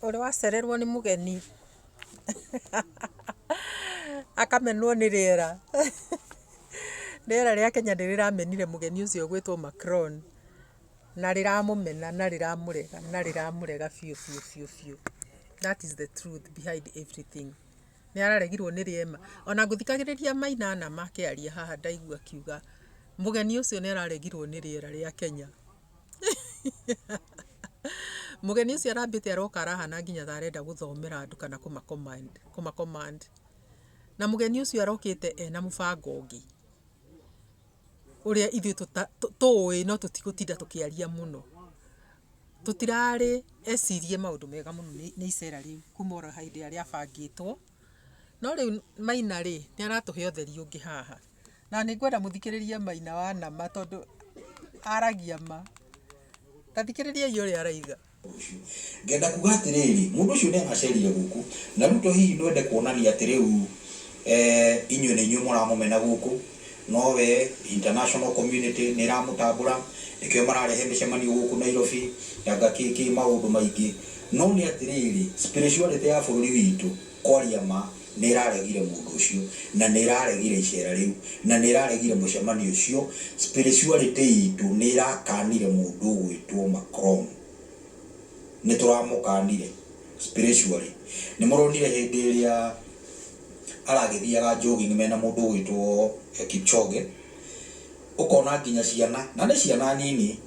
Ũrĩ wacererwo nĩ mũgeni akamenwo nĩ rĩera. Rĩera rĩa Kenya nĩ rĩramenire mũgeni ũcio ũgwĩtwo Macron na rĩramũmena na rĩramũrega na rĩramũrega biũ biũ biũ. That is the truth behind everything. Nĩararegirwo nĩ rĩema. Ona ngũthikagĩrĩria Maina na makĩaria haha ndaigua akiuga mũgeni ũcio nĩararegirwo nĩ rĩera rĩa Kenya. Mũgeni ũcio arambĩte aroka arahana nginya ta arenda gũthomera andũ kana kũma command kũma command. Na mũgeni ũcio arokĩte ena mũbango ũngĩ. ũrĩa ithuĩ tũũĩ no tũtigũtinda tũkĩaria mũno. Tũtirarĩ ecirie maũndũ mega mũno nĩ icera rĩu kuma oro hĩndĩ ĩrĩa rĩabangĩtwo, no rĩu Maina rĩ, nĩ aratũhe ũtheri ũngĩ haha. Na nĩ ngwenda mũthikĩrĩrie Maina wa nama tondũ aragia ma. Ta thikĩrĩriai ũrĩa araiga. ũcio. Ngenda kuuga atĩrĩrĩ, mũndũ ũcio nĩ acerire gũkũ. Na rĩu to hihi nwende kuonania atĩ rĩu inyuĩ nĩ inyuĩ mũramũmena gũkũ, no we international community nĩ ĩramũtambũra, nĩkĩo mararehe mĩcemanio gũkũ Nairobi, anga kĩ kĩ, maũndũ maingĩ. No nĩ atĩrĩrĩ, spirituality ya bũrũri witũ, Kwaria ma, nĩ ĩraregire mũndũ ũcio, na nĩ ĩraregire iceera rĩu, na nĩ ĩraregire mũcemanio ũcio. Spirituality iitũ nĩ ĩrakaanire mũndũ ũgwĩtwo Macron. Nĩ tũramũkaanire, spiritually. Nĩ mũronire hĩndĩ ĩrĩa aragĩthiaga jogging mena mũndũ ũgwĩtwo Kipchoge, ũkona nginya ciana, na nĩ ciana nini,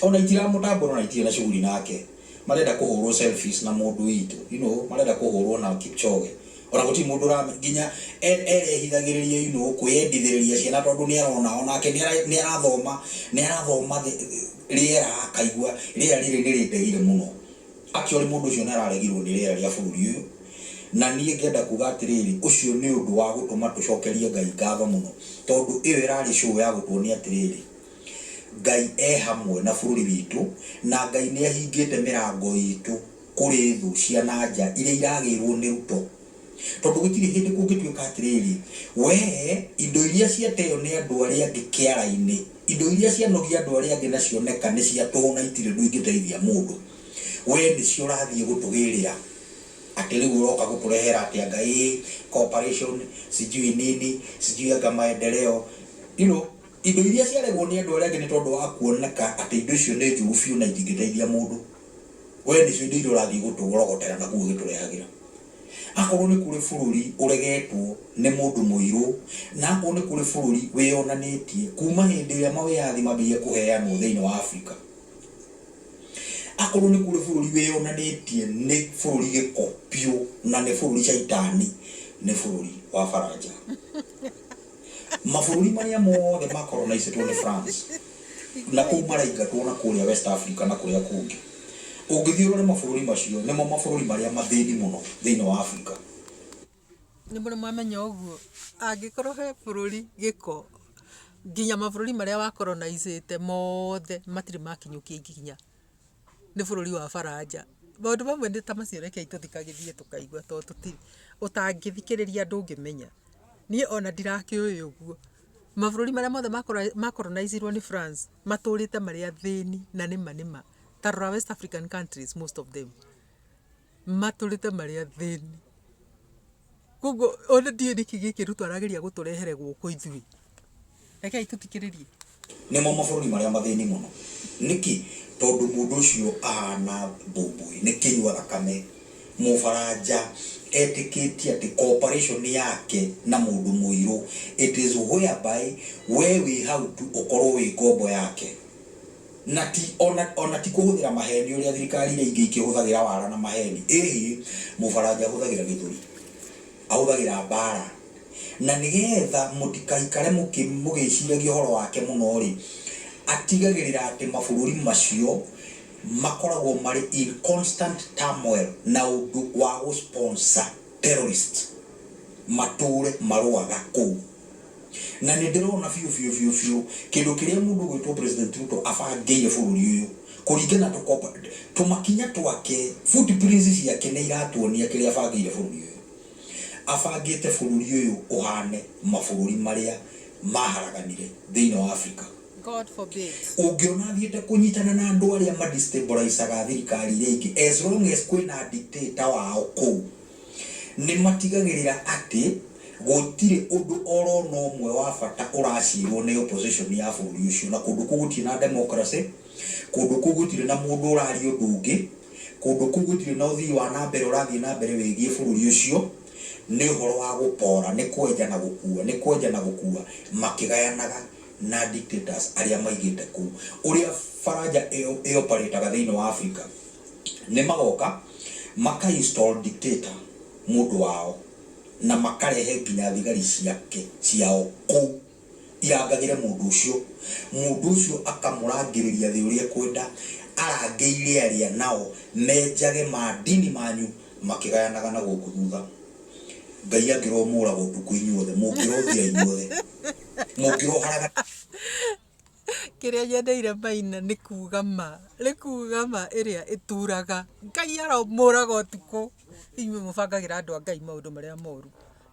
ona itiramũtambũra ona itirĩ na shughuli nake, marenda kũhũrwo selfies na mũndũ witũ, you know, marenda kũhũrwo na Kipchoge, ona gũtirĩ mũndũ ũramenya, nginya erehithagĩrĩria, you know, kwĩyendithĩrĩria ciana tondũ nĩarona, onake nĩarathoma, nĩarathoma rĩera akaigua rĩera rĩrĩ nĩrĩndegire mũno. Akiori mũndũ ũcio nĩ araregirũo nĩ rĩera rĩa bũrũri ũyũ, na niĩ ngenda kuuga atĩrĩrĩ, ũcio nĩ ũndũ wa gũtũma tũcokerie Ngai ngatho mũno, tondũ ĩyo ĩrarĩ show ya gũtuonia atĩrĩrĩ, Ngai e hamwe na bũrũri witũ, na Ngai nĩ ahingĩte mĩrango itũ kũrĩ thũ cia na nja iria iragĩirũo nĩ ruto Tondũ gũtirĩ hĩndĩ kũngĩtuĩka atĩrĩrĩ, Wee, indo iria ciateo nĩ andũ arĩa angĩ kĩara-inĩ, indo iria cianogia andũ arĩa angĩ na cioneka nĩ cia tũhũ na itirĩ ũndũ ingĩteithia mũndũ, wee nĩcio ũrathiĩ gũtũgĩrĩra, atĩ rĩu ũroka gũtũrehera atĩ anga ĩĩ cooperation, sijui nini, sijui anga maendeleo. You know, indo iria ciaregwo nĩ andũ arĩa angĩ nĩ tondũ wa kuoneka atĩ indo icio nĩ njũru biũ na itingĩteithia mũndũ. we nĩcio indo iria ũrathiĩ gũtũrogotera na kũu ũgĩtũrehagĩra. Akorwo nĩ kũrĩ bũrũri ũregetwo nĩ mũndũ mũirũ, na akorwo nĩ kũrĩ bũrũri wĩyonanĩtie kuma hĩndĩ ĩrĩa mawĩyathi mambĩrĩirie kũheanwo thĩinĩ wa Afrika, akorwo nĩ kũrĩ bũrũri wĩyonanĩtie nĩ bũrũri gĩko biũ na nĩ bũrũri caitani, nĩ bũrũri wa Baranja. Mabũrũri marĩa mothe makoronaicĩtwo nĩ France na kũu maraingatwo na kũrĩa West Africa na kũrĩa kũngĩ. Ũngĩthiĩ ũrore mabũrũri macio, nĩmo mabũrũri marĩa mathĩni mũno thĩinĩ wa Africa. Nĩ mũrĩ mwamenya ũguo? Angĩkorwo he bũrũri gĩko, nginya mabũrũri marĩa wakoronaicĩte mothe matirĩ makinyũkia ikinya. nĩ bũrũri wa baranja maũndũ mamwe nĩ ta macio reke tũthikagĩrĩrie tũkaigua tondũ tũti ũtangĩthikĩrĩria ndũngĩmenya niĩ ona ndirakĩũĩ ũguo mabũrũri marĩa mothe makoronaiziruo nĩ France matũrĩte marĩ athĩni na nĩma nĩma ta rora West African countries most of them Matũrĩte marĩ athĩni. Koguo ona ndiũĩ nĩkĩ gĩkĩ Ruto arageria gũtũrehere gũkũ ithuĩ. Rekei tũthikĩrĩrie. Nĩmo mabũrũri marĩa mathĩni mũno. Nĩkĩ? Tondũ mũndũ ũcio ahana mbũmbũĩ, nĩ kĩnyua thakame. Mũfaranja etĩkĩtie atĩ cooperation yake na mũndũ mũirũ, it is whereby wee wĩ hau tu ũkorwo wĩ ngombo yake. Na ti o na o na ti kũhũthĩra maheeni ũrĩa thirikari iria ingĩ ikĩhũthagĩra wara na maheeni, ĩhĩ, Mũfaranja ahũthagĩra gĩthũri, ahũthagĩra mbaara. Na nĩgetha mũtikaikare mũkĩ mũgĩciragia ũhoro wake mũno-rĩ, atigagĩrĩra atĩ mabũrũri macio makoragwo marĩ in constant turmoil na ũndũ wa gũ sponsor terrorists matũũre marũaga kũu. Na nĩndĩrona biũ biũ biũ biũ kĩndũ kĩrĩa mũndũ ũgwĩtwo President Ruto abangĩire bũrũri ũyũ kũringana tũmakinya twake, footprints ciake nĩiratuonia kĩrĩa abangĩire bũrũri ũyũ. Abangĩte bũrũri ũyũ ũhane mabũrũri marĩa maharaganire thĩinĩ wa Africa. Ũngĩona athiĩte kũnyitana na andũ arĩa ma destabilize-aga thirikari iria ingĩ as long as kwĩna dictator wao kũu. Nĩ matigagĩrĩra atĩ gũtirĩ ũndũ o ro na ũmwe wa bata ũracirwo nĩ opposition ya bũrũri ũcio, na kũndũ kũu gũtirĩ na democracy, kũndũ kũu gũtirĩ na mũndũ ũraria ũndũ ũngĩ, kũndũ kũu gũtirĩ na ũthii wa na mbere ũrathiĩ na mbere wĩgiĩ bũrũri ũcio, nĩ ũhoro wa gũpora, nĩ kwenja na gũkua, nĩ kwenja na gũkua, makĩgayanaga na dictators arĩa maigĩte kũu. Ũrĩa Faranja ĩoparĩtaga thĩinĩ wa Africa. Nĩmagoka maka install dictator mũndũ wao na makarehe nginya thigari ciake ciao kũu irangagĩre mũndũ ũcio. Mũndũ ũcio akamũrangĩrĩria thĩ ũrĩa ekwenda, arangĩire arĩa nao menjage ma ndini manyu makĩgayanaga na gũkũ thutha. Ngai angĩrwo mũũraga ũtukũ inyuothe, mũngĩrothira inyuothe, mũngĩroharaga. Kĩrĩa nyendeire Maina nĩ kuga ma. Nĩ kuga ma ĩrĩa ĩturaga. Ngai aromũraga ũtukũ. Inyuĩ mũbangagĩra andũ a Ngai maũndũ marĩa moru.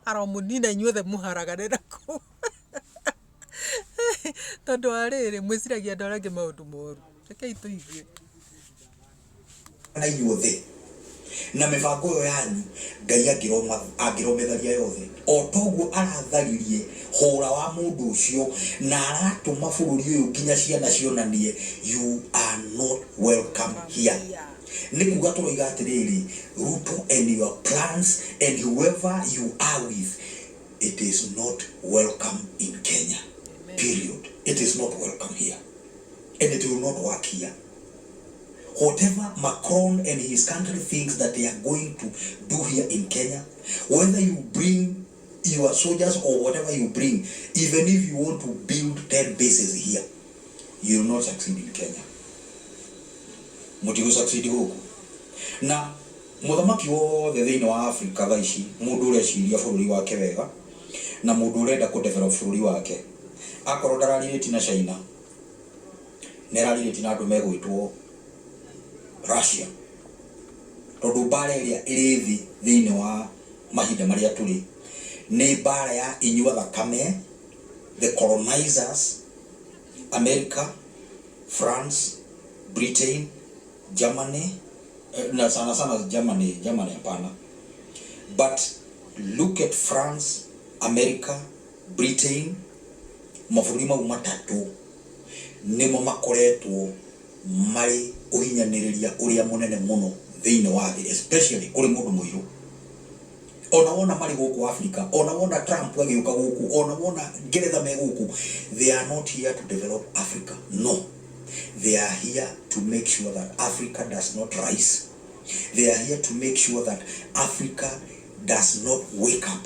Aromũnina inyuothe mũharagane na kũu. Tondũ wa rĩrĩ, mwĩciragia andũ arĩa angĩ maũndũ moru. Rekei tũigue. na inyuothe na mĩbango ĩyo yanyu ngai angĩrometharia yothe o toguo aratharirie hũra wa mũndũ ũcio na aratũma bũrũri ũyũ nginya ciana cionanie you are not welcome here nĩ kuga tũroiga atĩrĩrĩ ruto and your plans and whoever you are with it is not welcome in kenya period it is not welcome here and it will not work here whatever Macron and his country thinks that they are going to do here in Kenya, whether you bring your soldiers or whatever you bring, even if you want to build 10 bases here, you will not succeed in Kenya. Mutigo succeed huku. Na muthamaki wothe thĩinĩ wa Africa thaa ici mũndũ ũreciria bũrũri wake wega na mũndũ ũrenda kũdevelop bũrũri wake akorwo ndararirĩti na China nĩ araarĩirie nginya andũ megwĩtwo Russia, tondũ mbaara ĩrĩa ĩrĩ thĩ thĩinĩ wa mahinda marĩa tũrĩ nĩ mbaara ya inyua thakame, the colonizers, America, France, Britain, Germany, na sana sana Germany, Germany hapana, but look at France, America, Britain, mabũrũri mau matatũ. nĩmo makoretwo marĩ ũhinyanĩrĩria ũrĩa mũnene mũno thĩinĩ wa thĩ especially kũrĩ mũndũ mũirũ. Ona wona marĩ gũkũ Africa, ona wona Trump agĩũka gũkũ, ona wona Ngeretha me gũkũ, they are not here to develop Africa, no. They are here to make sure that Africa does not rise. They are here to make sure that Africa does not wake up.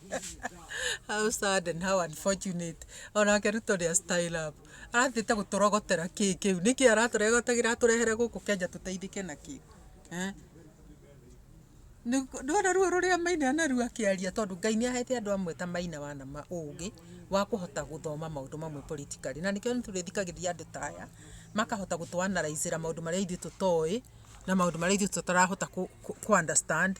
How sad and how unfortunate. Onake Ruto nĩ a style up. Arathiĩte gũtũrogotera kĩ kĩu. Nĩkĩ aratũrogotagĩra atũrehere gũkũ Kenya tũteithĩke nakĩ? Eh? Ndwona ruo rũrĩa maina anaru akĩaria tondũ Ngai nĩ ahete andũ amwe ta maina wana ma ũgĩ wa kũhota gũthoma maũndũ mamwe politically. Na nĩkĩo tũrĩthikagĩrĩria andũ ta aya makahota gũtũ analyze maũndũ marĩa ithuĩ tũtoĩ na maũndũ marĩa ithuĩ tũtarahota kũ understand.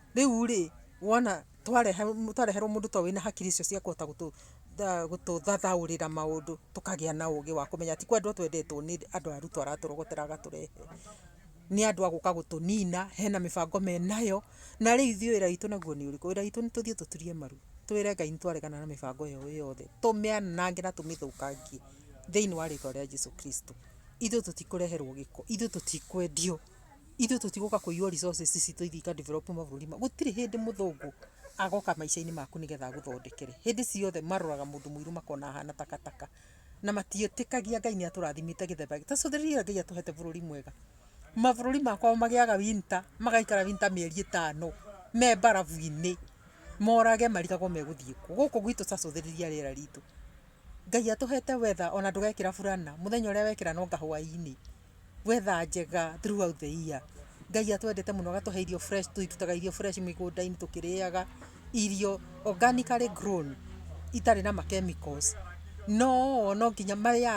Rĩu rĩ, wona twareherwo mũndũ ta ũyũ wĩna hakiri icio cia kũhota gũtũthathaũrĩra maũndũ, tũkagĩa na ũgĩ wa kũmenya ti kwendwo twendetwo nĩ andũ a Ruto aratũrogotera agatũrehe. Nĩ andũ a gũka gũtũnina, hena mĩbango menayo, na rĩu ithuĩ wĩra witũ naguo nĩ ũrĩkũ? Wĩra witũ nĩ tũthiĩ tũturie maru, twĩre Ngai nĩ twaregana na mĩbango ĩyo yothe, tũmĩanange na tũmĩthũkangie thĩiniĩ wa rĩtwa rĩa Jesu Kristo. Ithuĩ tũtikũreherwo gĩko, ithuĩ tũtikwendio. Ithuĩ tũtigũka kũiywo resources citũ ithiĩ ika develop mabũrũri mangĩ. Gũtirĩ hĩndĩ mũthũngũ agoka maica-inĩ maku nĩgetha agũthondekere. Hĩndĩ ciothe maroraga mũndũ mũirũ makona ahana takataka. Na matiĩtĩkagia Ngai nĩ atũrathimĩte gĩthemba gĩkĩ. Ta rĩu rĩrĩa Ngai atũhete bũrũri mwega, mabũrũri ma kwao magĩaga winter, magaikara winter mĩeri ĩtano me mbarabu-inĩ, morage marigagwo megũthiĩ kũ. Gũkũ gwitũ ta cũthĩrĩria rĩera ritũ. Ngai atũhete weather ona ndũgekĩra burana, mũthenya ũrĩa wekĩra no kahũa-inĩ. Weather njega throughout the year. Ngai atwendete mũno agatũhe irio fresh, tũitutaga irio fresh mĩgũnda-inĩ tũkĩrĩaga, irio organically grown itarĩ na ma chemicals. No no nginya marĩa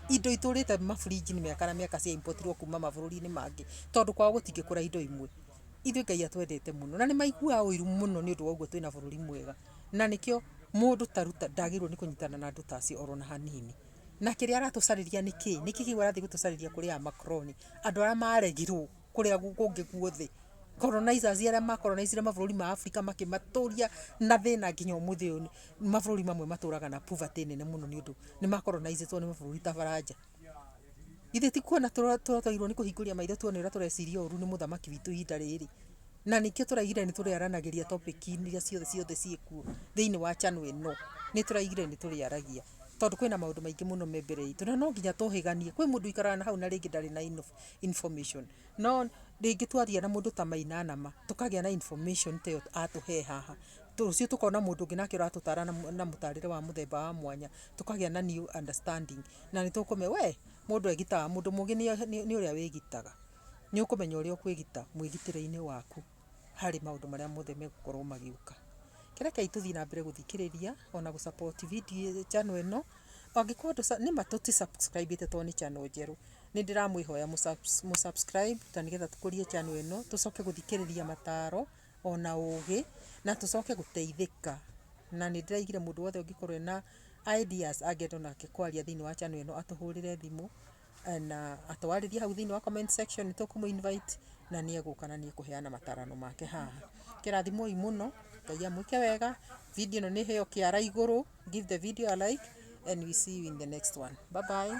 indo itũrĩte maburinji-inĩ mĩaka na mĩaka cia importirwo kuma mabũrũri-inĩ mangĩ, tondũ kwao gũtingĩkũra indo imwe. Ithuĩ Ngai atwendete mũno, na nĩ maiguaga ũiru mũno nĩ ũndũ wa ũguo twĩna bũrũri mwega. Na nĩkĩo mũndũ ta Ruto ndagĩrĩirwo nĩ kũnyitana na andũ ta acio ona hanini. Na kĩrĩa aratũcarĩria nĩ kĩĩ? Nĩkĩĩ kĩu arathiĩ gũtũcarĩria kũrĩ aya makoroni? Andũ arĩa maregirwo kũrĩa kũngĩ guothe. Colonizers arĩa ma colonized mabũrũri ma Africa makĩmatũria na thĩna nginya ũmũthĩ ũyũ nĩ, mabũrũri mamwe matũraga na poverty nene mũno nĩ ũndũ nĩ ma colonized nĩ mabũrũri ta Baranja. Githĩ ti kuona tũratorirwo nĩ kũhingũria maitho tuone ũrĩa tũreciria ũũru nĩ mũthamaki witũ ihinda rĩrĩ? Na nĩkĩo tũraigire nĩ tũrĩaranagĩria topic iria ciothe ciothe ciĩkuo thĩinĩ wa channel ĩno. Nĩ tũraigire nĩ tũrĩaragia tondũ kwĩna maũndũ maingĩ mũno me mbere itũ na no nginya tũhĩganie. Kwĩ mũndũ ũikaraga na hau na rĩngĩ ndarĩ na information, no rĩngĩ twaria na mũndũ ta Maina na ma, tũkagĩa na information ta ĩyo atũhe haha. Rũciũ tũkona mũndũ ũngĩ nake ũratũtara na mũtarĩre wa mũthemba wa mwanya, tũkagĩa na new understanding. Na nĩ tũkũmenya we, mũndũ egitaga, mũndũ mũgĩ nĩ ũrĩa wĩgitaga. nĩ ũkũmenya ũrĩa ũkwĩgita mwĩgitĩre-inĩ waku harĩ maũndũ marĩa mothe megũkorwo magĩũka. Rekei tũthiĩ na mbere gũthikĩrĩria ona gũ support video channel ĩno. Angĩkorwo ndũ nĩma tũti subscribe ĩte tondũ nĩ channel njerũ, nĩ ndĩramwĩhoya mũ subscribe ta nĩgetha tũkũrie channel ĩno, tũcoke gũthikĩrĩria mataro ona ũgĩ na tũcoke gũteithĩka. Na nĩ ndĩraigire mũndũ wothe ũngĩkorwo ena ideas angĩenda onake kwaria thĩinĩ wa channel ĩno atũhũrĩre thimũ na atwarĩrie hau thĩinĩ wa comment section nĩtũkũmũ invite na nĩ egũka na nĩ ekũheana matarano make haha kĩrathimoi mũno ngai amwĩke wega video ĩno nĩ heo kĩara igũrũ give the video a like and we see you in the next one bye bye